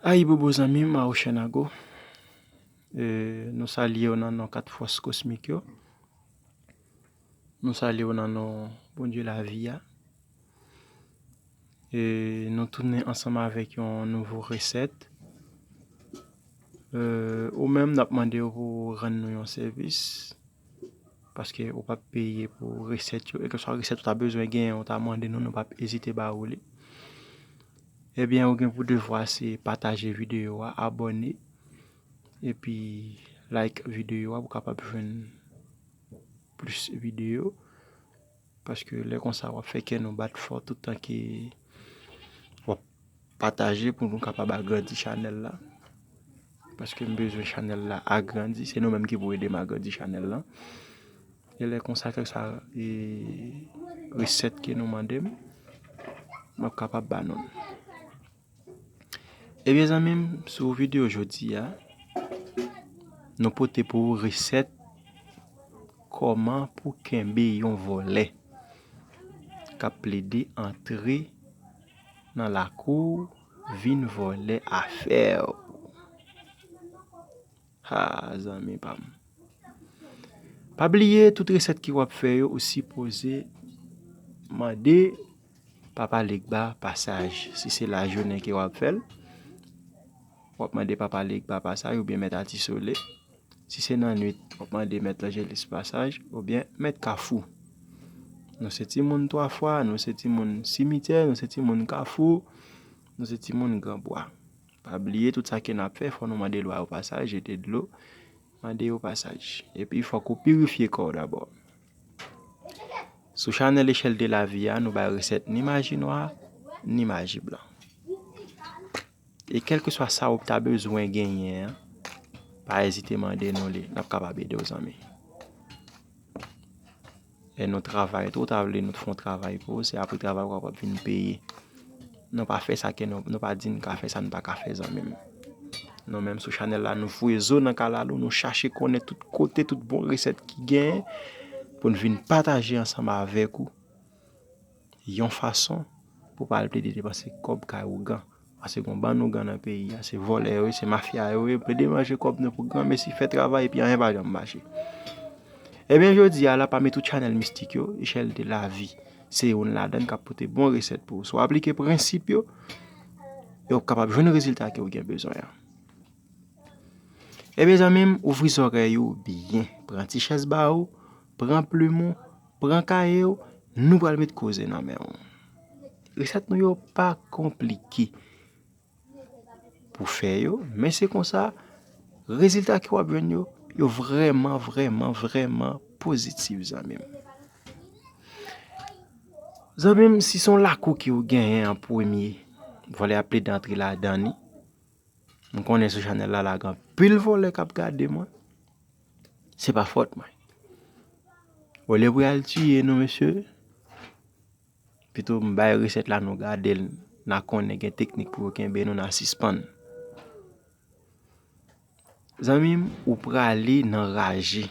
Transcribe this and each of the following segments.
Ayibobo zanmim Awochènago nou salyew nan non 4 fòs kosmik yo nou salyew nan non Bondye lavi a e nou tounen ansanm avèk yon nouvo resèt ou menm nap mandew pou rann nou yon sèvis. Paske ou pap peye pou resèt yo. Ekèswa resèt ou ta bezwen genyen ou ta mande nou nou pap ezite ba ou li. Ebyen ou gen pou devwa se pataje videyo a, abone, epi like videyo a pou kapab jwenn plis videyo. Paske lè konsa wap fè kè nou bat fò tout tan ke wap pataje pou nou kapab agrandi chanèl la. Paske m bezwen chanèl la agrandi, se nou menm ki pou ede m agrandi chanèl lan. E lè konsa kèk sa e resèt ke nou mande m, map kapab ba nou l. Ebyen zanmim sou video jodi a nou pote pou ou resèt kòman pou kenbe yon vòlè kap plede antre nan lakou vin vòlè afèw. Haa zanmi pam. Pa bliye tout resèt ke wap fè yo ou sipoze mande papa legba pasaj si se lajounen ke wap fèl wap mande papa legba pasaj oubyen mèt atisole si se nan nwit wap mande mèt lanjelis pasaj oubyen mèt kafou nou se timoun 3 fwa nou se timoun simityè nou se timoun kafou nou se timoun gran bwa Pa bliye tout sa ke nap fè fò nou mande lwa opasaj, jete dlo, mande opasaj. Epi fòk ou pirifye kò w dabò. Sou chanèl echèl de la vi a nou bay resèt ni maji nwa, ni maji blan. E kelke swa sa ou ta bezwen genyen an, pa ezite mande nou li, nap kapab ede w zanmi. Lè nou travay tou, ou ta vle nou fon travay pou ou, se apre travay ou kapab vin peye. Nou pa fè sa kè nou, nou pa di nou ka fè sa nou pa ka fè zanmim. Nou menm sou chanèl la nou foure zo nan kalalou, nou chache konnen tout kote, tout bon resèt ki gen, pou nou vin pataje ansanm avèk ou. Yon fason pou pa al plede depanse kòb kay ougan. Pase gon bann ougan nan peyi a. Se vòlè yo ye, se mafya yo ye. Plede manje kòb nou pou gran mesi fè travay epi anyen pa janm mache. Ebyen jodi a la pami tout chanèl mistik yo, Echèl de lavi se youn ladann k ap pote bon resèt pou ou. Si w aplike prensip yo, e ou kapab jwenn rezilta ke ou gen bezwen an. Ebyen zanmi m ouvri zòrèy ou byen. Pran ti chèz ba ou, Pran plim ou, pran kaye ou, nou pral met koze nan men ou. Resèt nou yo pa konplike pou fè yo, men se konsa, rezilta ke w ap jwenn yo, yo vrèman, vrèman, vrèman pozitif zanmi m. Zanmi m, si son lakou ke ou genyen an premye, vòlè ap plede antre ladan li, m konnen sou chanèl la la gen anpil vòlè k ap gade mwen. Se pa fòt mwen. Bon lè pou yal tiye nou mesye, pito m bay resèt la nou gade l, na konnen gen teknik pou yo kenbe nou na sispann. Zanmi m ou prale nan raje,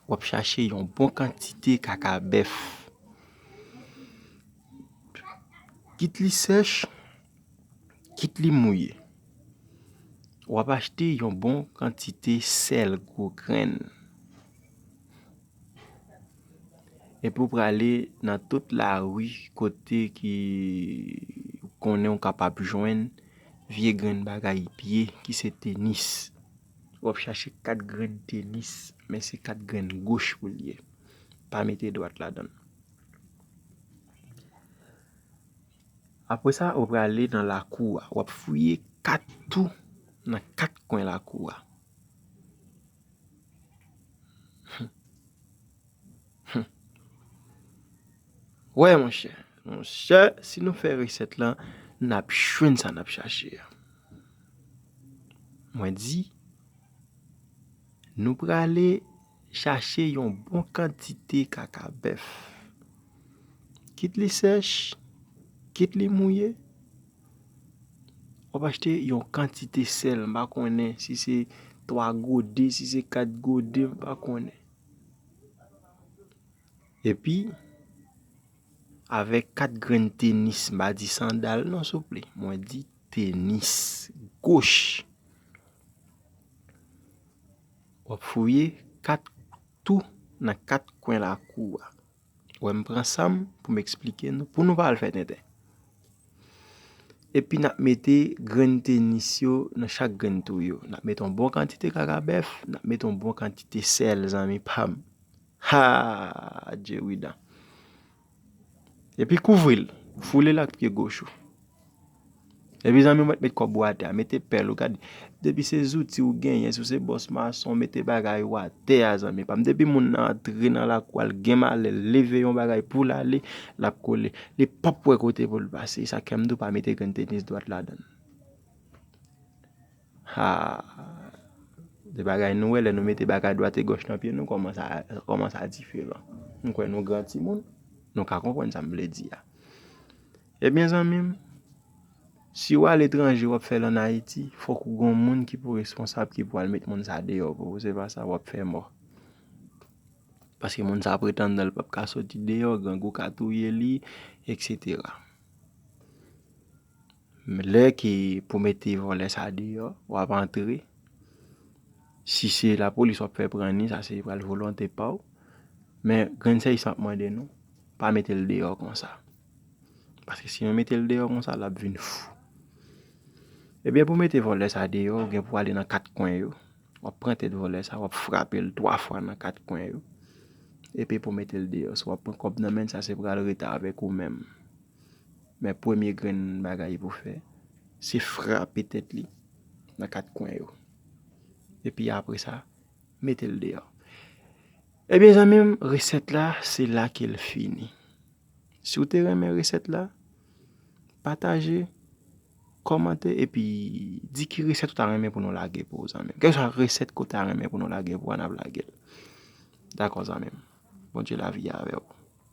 w ap chache yon bon kantite kaka bèf, kit li sèch. Kit li mouye, w ap achte yon bon kantite sèl gwo grenn. Epi w prale nan tout lari kote ki konnen w kapab jwenn vye grenn bagay vye ki se tenis. W ap chache 4 grenn tenis, men se 4 grenn goch pou l ye. Pa mete dwat ladan l. Apre sa, ou prale nan lakou a. Wap fouye kat tou nan kat kwen lakou a. Wè monchè, monchè, si nou fè resèt lan, nap jwenn sa nap chache a. Mwen di, nou prale. Chache yon bon kantite kaka bèf. Kit li sèch, kit li mouye, wap achte yon kantite sèl, mpa konnen si se 3 gode, si se 4 gode, mpa konnen. Epi, avèk 4 grenn tenis, mpa di sandal non souple, mwen di tenis goch. W ap fouye kat tou nan kat kwen lakou a. Wè m pran sa m pou m eksplike nou pou nou pa al fè tenten. Epi n ap mete grenn tenis yo nan chak grenn twou yo. N ap mete yon bon kantite kakabèf, n ap mete yon bon kantite sèl zanmi pa m. Haa! Djeridan. Epi kouvri l. Foule l ak pye goch ou. Epi zanmi mwen met kòb ou atè a, mete pèl ou. Gade, depi se zouti ou genyen, si w se bòs mason, mete bagay ou atè a zanmi pa m. Depi moun nan antre nan lakou a, l gen malè, l leve yon bagay pou l ale, l ap kole. Li pap wè kote pou l pase. E sa k fè m di w pa mete grenn tenis dwat ladan l. Haa se bagay nou wè lè nou mete bagay dwat e gòch nan pye nou kòman sa kòman sa diferan m kwè nou gran timoun nou ka konprann sa m vle di a ebyen zanmi m si w aletranje w ap fè l an Ayiti fòk ou gon moun ki pou responsab ki pou al met moun sa deyò pou ou se pa sa w ap fè mò paske moun sa pretann nan l p ap ka soti deyò grangou ka touye li eksetera. Lè ke pou mete vòlè sa deyò wap antre si se la polis wap fè pran ni sa se pral volonte paw men grenn sèy sa map mande nou pa metel deyò konsa paske si nou metel deyò konsa lap vin fou ebyen pou mete vòlè sa deyò ou gen pou ale nan 4 kwen yo wap pran tèt vòlè sa wap frapel 3 fwa nan 4 kwen yo epi pou metel deyò si wap pran kòb nan menn sa se pral rete avèk ou menm. Men premye grenn bagay pou fè, se frape tèt li nan kat kwen yo. Epi apre sa, mete l deyò. Ebyen zanmi m, resèt la, se la ke l fini. Si w te renmen resèt la, pataje, kòmante, epi di ki resèt ou ta renmen pou nou lage pou ou zanmi m. Kèlkeswa resèt ke w ta renmen pou nou lage pou ou a, n ap lage l. Dakò zanmi m. Bondye lavi a avè w.